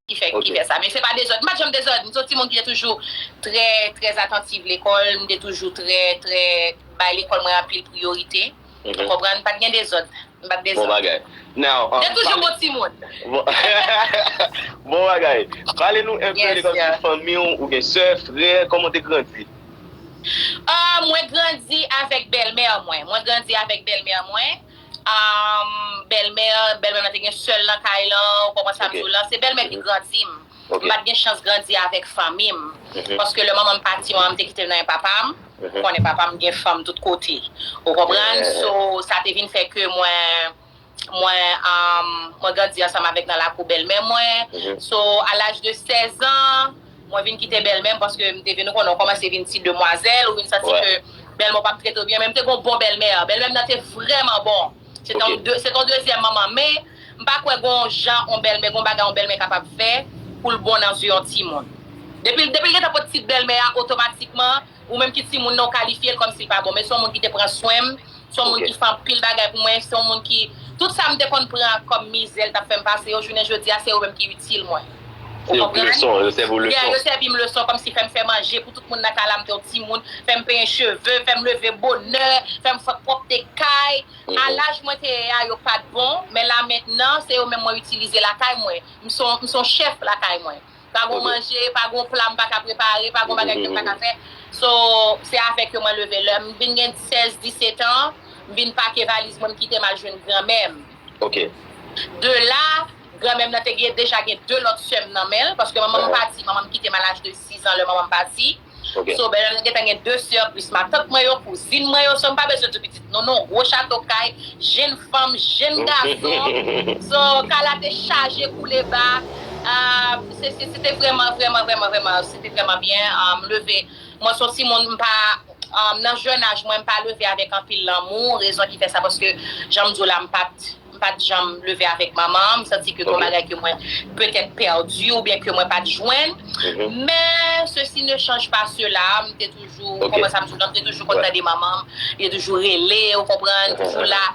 ki fè ki fè sa men se pa dezòd m pat janm dezòd m se yon timoun ki te toujou trè trè atantiv lekòl m te toujou trè trè bay lekòl mwen anpil priyorite ou konprann pat gen dezòd m pat dezòd bon bagay now m te toujou bon timoun bon bagay pale nou enpe de kòm si fanmi w ou gen sè frè kòman w te grandi ahh mwen grandi avèk bèlmè mwen mwen grandi avèk bèlmè mwen. Aahmm bèlmè bèlmè mwen te gen sèl nan kay lan ou konprann sam diw lan se bèlmè ki grandim mpat gen chans grandi avèk fanmim paske lè manmanm pati manmanm te kitem nan men papam ou konnen papam gen fanm tout kote ou konprann so sa te vin fè ke mwen mwen mwen grandi ansanm avèk nan lakou bèlmè mwen so a laj de 16 ans. Mwen vin kite bèlmè m paske m te vin ou konnen ou kòmanse vin ti demwazèl ou vin santi ke bèlmè w pap trete w byen men m te gen yon bon bèlmè bèlmè m nan te vrèman bon se te yon dezyèm manman men m pa kwè gen yon jan yon bèlmè gen yon bagay yon bèlmè kapab fè pou l bon nan zye yon timoun depi l depi l gentan pot tit bèlmè a otomatikman Ou menm ki timoun nan ou kalifye l kòmsi l pa bon men se yon moun ki te pran swen m, se yon moun ki fè anpil bagay pou mwen, se yon moun ki tout sa m te konn pran kòm mizè l t ap fè m pase yo jounen jodi a se yo menm ki itil mwen. Ou konprann? Yeah, yo sèvi m leson kòmsi fè m fè manje pou tout moun nan kay la m te yon timoun, fè m penyen cheve, fè m leve bonè, fè m fè pwòpte kay. A laj mwen te ye a yo pa t bon men la mentnan se yo menm mwen itilize lakay mwen. M se yon chèf lakay mwen. Pa gon manje, pa gon pla m pa ka prepare, pa gon bagay ke m pa ka fè. So, se avèk yo mwen leve. Lè m vin gen 16, 17 an, m vin pake valiz mwen, m kite m al jwenn granmè m. De la, granmè m nan te gen, deja gen 2 lòt sè m nan men l, paske manman m pati, manman m kite m a laj de 6 an lè manman m pati. So bèlè mwen gentan gen 2 sè plis matant mwen yo, kouzin mwen yo, so mpa bezwen di pitit non non, gwo chato kay, jenn fanm, jenn gason, so kay la te chaje kou le ba, se te vrèman vrèman vrèman vrèman se te vrèman byen, m leve, mwen son timoun mpa, nan jèn aj mwen mpa leve avèk anpil lanmou, rezon ki fè sa paske janm diw la mpat. M pa t janm leve avèk manman an. M santi ke gen yon bagay ke mwen petèt pèdi oubyen ke mwen pa t jwenn. Men, sesi ne chanj pa sela, m te toujou, ou konprann sa m di w la, m te toujou konn tande manman m. Li te toujou rele, ou konprann, toujou la.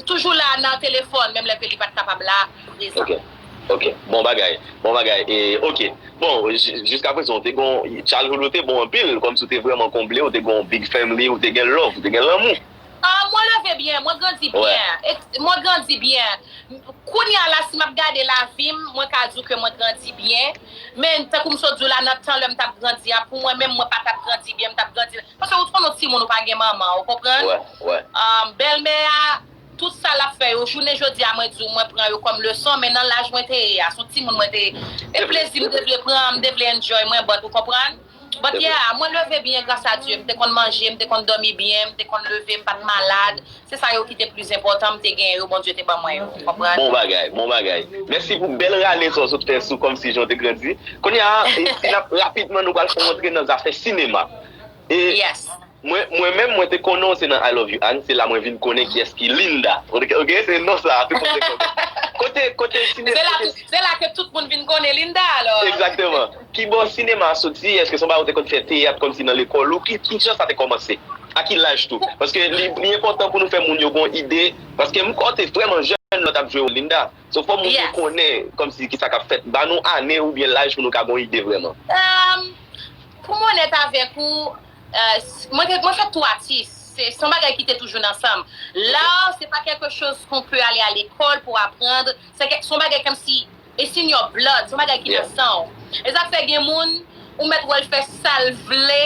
Toujou la nan telefòn, menm lè ke li pa t kapab la, prezan. Ok. Ok. Bon bagay. Bon bagay. E, ok. Bon, jiskaprezan, ou te gen yon childhood ou te bon anpil, kòmsi ou te vrèman konble, ou te gen yon big family, ou te gen love, ou te gen lanmou. Ahh mwen leve byen, mwen grandi byen, mwen grandi byen. Kounya la si map gade lavi m, mwen ka di w ke mwen grandi byen. Men tankou m sot di w la nan tan lè m tap grandi a pou mwen menm mwen pa tap grandi byen, m tap grandi nan, paske ou t konn ou timoun ou pa gen manman, ou konprann? Ahh bèlmè a tout sa lap fè yo jounen jodi a mwen di w mwen pran yo kòm leson men nan laj mwen te ye a, son timoun mwen te ye. E plezi m te vle pran, m te vle enjoy mwen but ou konprann? But yeah, mwen leve byen gras a Dye, m te konn manje, m te konn domi byen, m te konn leve, m pat malad, se sa yo ki te plis enpòtan, m te genyen yo Bondye te ban mwen yo, ou konprann. Bon bagay, bon bagay. Mèsi pou bèl rale sa w sot fè sou Kòmsi Jan w te grandi. Kounya a, si n ap rapidman nou pral fè yon antre nan zafè sinema. Yes. Mwen menm mwen te konnen w se nan I love you Anne se la mwen vin konnen kiyès ki Linda ok se non sa tout moun te konnen kote kote sinema se la ke tout moun vin konnen Linda alò egzakteman kibò sinema a soti eske se yon bagay ou te konn fè teyat kòmsi nan lekòl ou kijan sa te kòmanse a ki laj tou paske li enpòtan pou nou fè moun yo gen yon ide paske m kwè w te vrèman jèn lè w t ap jwe wòl Linda so fò moun yo konnen kòmsi kisa k ap fèt ba nou ane oubyen laj pou nou ka gen yon ide vrèman. Ehm poum onèt avèk ou. Mwen fè tou atis, se yon bagay ki te toujou nan san m. L'art se pa quelque chose qu'on peut aller à l'école pour apprendre, se yon bagay comme si it's in your blood, se yon bagay ki nan san w. E sa k fè gen moun, ou mèt wè l fè sa l vle,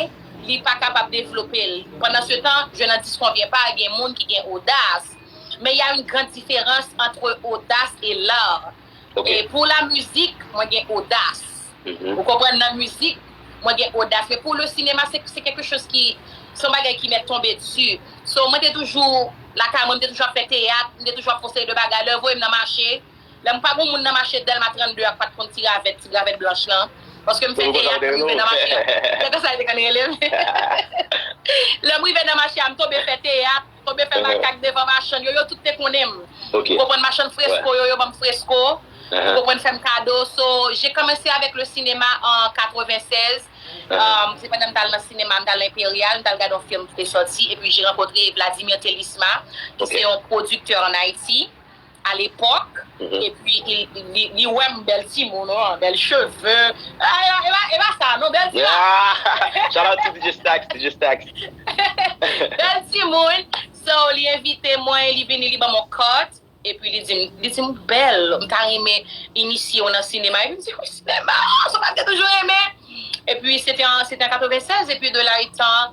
li pa kapab devlope l. Pendant ce temps, je n'en disconviens pas, gen moun ki gen odas. Men il y a une grande différence entre audace et l'art. Ok. E pou la mizik mwen gen odas. Ou konprann nan mizik mwen gen odas men pou le sinema se se kèlke choz ki son bagay ki mèt tonbe dsi. So mwen te toujou lakay mwen, mwen te toujou ap fè teyat, mwen te toujou ap fon seri de bagay. Lè yo voye m nan mache, lè mwen pa gen yon moun nan mache Dèlma 32 ak pat konn ti ravèt, ti ravèt blanch lan. Paske m fè teyat, m rive nan mache. Se konsa yo te konn rele m. Lè m rive nan mache a m tonbe fè teyat. Tonbe fè makak devan machann yo, yo tout te konnen m. Ou konprann machann fresko yo, yo ban m fresko, ou konprann fè m kado. So, je kòmanse avèk le sinema an 96. Se pandan m t al nan sinema, m t al nan Imperial, m t al gade yon film ki te sòti epi je rankontre Vladimir Telisma ki se yon pwodiktè an Ayiti. a l'époque et puis li wèm bèl timoun oh bèl cheve e pa sa non bèl timoun shout out to DJ Stacks DJ Stacks bèl timoun so li envite mwen li vini li banm on cut et puis li dim li dim ou bèl m ta renmen inisye w nan sinema et puis m di oh sinema oh sa m pat gen toujou renmen et puis se te an 96 et puis de là etant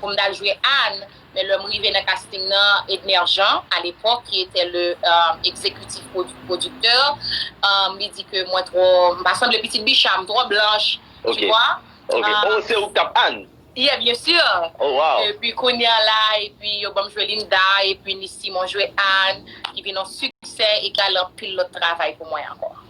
pou m t al jwe Anne, men lè m rive nan casting nan, Edner Jean, à l'époque, qui était le executif producteur, li di ke mwen twò, m pa sanble pitit Bicha, m twò blanche, tu vois. Ok, ok. Oh, se ou ki t ap Anne? Yeah, bien sûr. Oh, wow. Epi kounye a la, epi yo ban m jwe Linda, epi Nice Simon jwe Anne, ki vin yon siksè e ki al anpil lòt travay pou mwen ankò.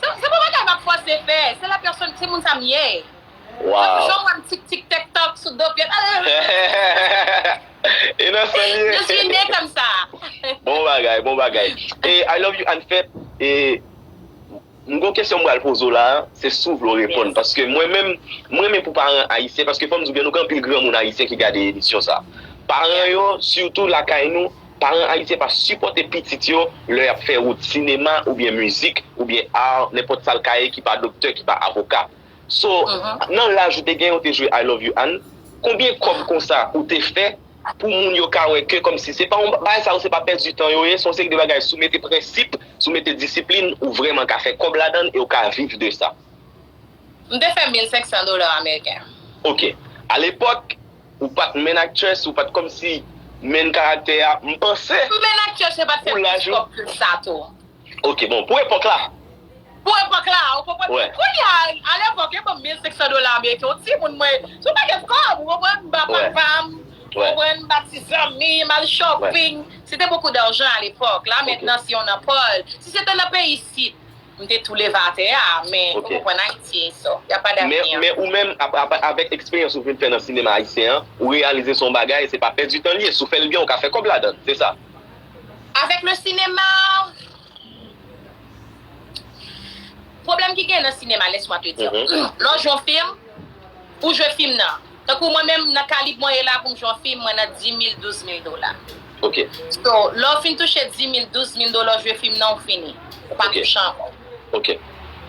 Se pa bagay map fòse fè, se la pèsòn, se moun sa m ye. Mwen toujou wè m tik tik tèk tòk sou do pyès. E nan san l ye. Je suis né comme ça. Bon bagay, bon bagay. E I love you Anne Fête. E m gon kesyon m pral poze w la a, se si w vle w reponn paske mwen menm m renmen pou paran ayisyen paske fò m di w gen nou gen anpil granmoun ayisyen ki gade emisyon sa a. Paran yo sitou lakay nou. Paran ayisyen pa sipòte pitit yo lè y ap fè wout sinema oubyen mizik oubyen art nenpòt sa l ka ye ki pa doktè ki pa avoka so nan laj ou te gen ou te jwe I love you Anne konbyen kòb konsa ou te fè pou moun yo ka wè ke kòmsi se pa yon bagay sa yo se pa pèdi tan yo ye se yon seri de bagay si w mete prensip si w mete disiplin ou vrèman ka fè kòb ladan l e w ka viv de sa. M te fè 1500 dola ameriken. Ok. Alepòk Ou pat menn actress ou pat komsi menn karaktè a m panse M menn actress mwen pat fè plis kòb ke sa tou. Ok bon pou epòk la. Pou epòk la ou konprann m kounya a lepòk yo banm 1500 dola ameriken yon timoun mwen se yon pakèt kòb ou konprann m ba papa m ou konprann m ba ti zanmi m al shopping se te beaucoup d'argent a lepòk la mentnan se yon nan pòl si se te nan peyi isit. M te tou leve atè a, men ou konprann Ayiti e sa. Y a pa davni an. Men ou menm, avèk eksperyans ou fin fè nan sinema ayisyen an, ou reyalize se yon bagay, se pa pèdi tan li ye. Si w fè l byen, ou ka fè kòb ladan l. Se sa? Avèk le sinema, pwoblèm ki genyen nan sinema, lèsmwa te di w. Lè w jwe yon fim, pou w jwe fim nan. Tankou mwen menm nan kalib mwen ye la poum jwe yon fim mwen nan 10000 12000 dola. Ok. So lè ou fin touche 10000 12000 dola ou jwe fim nan ou fini. Ou pa touche ankò. Ok.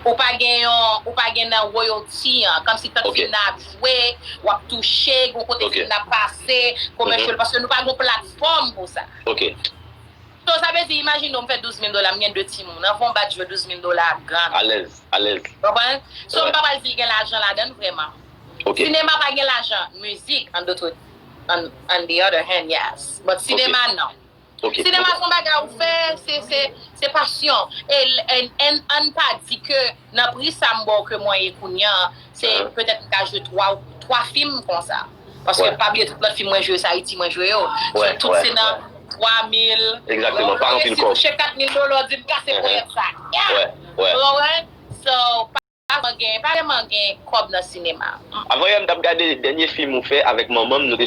Ou pa gen yon ou pa gen nan royalty an kòmsi tank fim nan ap jwe wap touche gon kote fim nan ap pase commercial paske nou pa gon platfòm pou sa. Ok. So sa vle di imajine m fè 12 mil dola m gen 2 timoun anvan w bat jwe 12 mil dola a gad. Alèz, alèz. W konprann? So m pa pral di li gen lajan ladan l vrèman. Ok. Sinema pa gen lajan, mizik an dotre an an the other hand yes. But sinema non. Ok. Sinema s on bagay ou fè se se se pasyon e n an n pa di ke Nan pri sa m ba w ke mwen ye kounya an, se petèt m ka jwe 3 ou 3 fim konsa. Paske pa bliye tout lòt fim mwen jwe yo se Ayiti mwen jwe yo. Donk tout se nan 3 mil. Donk ou ka resi touche 4 mil dola w di m kase ponyèt sa. Ou wè? So, pa vrèman gen, pa vrèman gen kòb nan sinema. Avan yè m t ap gade dènye fim ou fè avèk manman m, nou te.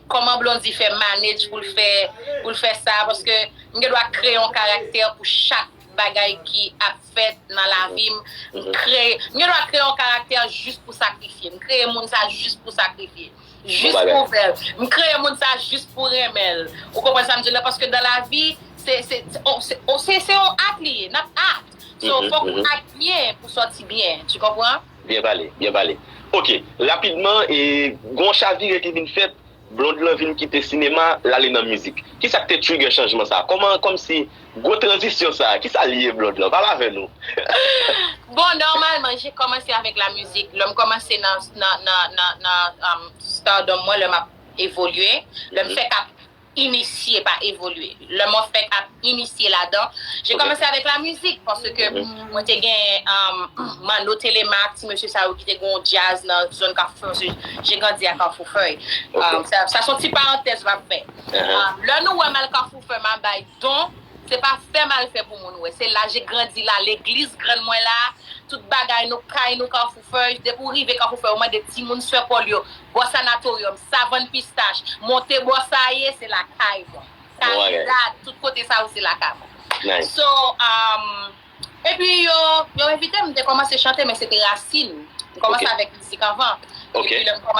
Kòman Blondy fè manage pou l fè pou l fè sa paske m gen dwa kreye yon karaktè pou chak bagay ki ap fèt nan lavi m m kreye m gen dwa kreye yon karaktè jis pou sakrifye m kreye moun sa jis pou sakrifye jis pou fè l m kreye moun sa jis pou renmen l ou konprann sa m di w la paske dan lavi se se se se yon act li ye n ap act so fòk ou act byen pou sòti byen tu konpran. Byen pale, byen pale. Ok, rapidman, gon chavire ki vin fèt, Blonde lan vin kite sinema, lale nan mizik. Kisa k te trigger chanjman sa? Kòman, kòmsi, gwo tranzisyon sa, kisa l ye Blonde lan? Pale avè nou. Bon, nòmalman, je kòmanse avèk la mizik. Lè m kòmanse nan, nan, nan, nan, nan, nan stardom mwen, lè m ap evolye, lè m fèk ap inisye pa evolye lè mwen fèk ap inisye ladan je kòmanse avèk la mizik paske mwen te gen manno telema ak ti mesye sa yo ki te gen yon djaz nan zòn kafou fèy je grandi a kafou fèy sa son ti parantèz map fè lè nou wèm al kafou fèy map bay don se pa fè mal fè pou moun wè se la je grandi la legliz grann mwen la tout bagay nou kay nou kafou. Feuilles, depi w rive Kanfou Fèy ou mande timoun Sè Pòl yo bò Sanatoryòm, Savann Pistach, monte bò sa a ye, se lakay mwen. Karidad, tout kote sa yo se lakay mwen. So, epi yo envite m, m te kòmanse chante men se te rasin. M kòmanse avèk mizik anvan. Epi lè m kòmanse.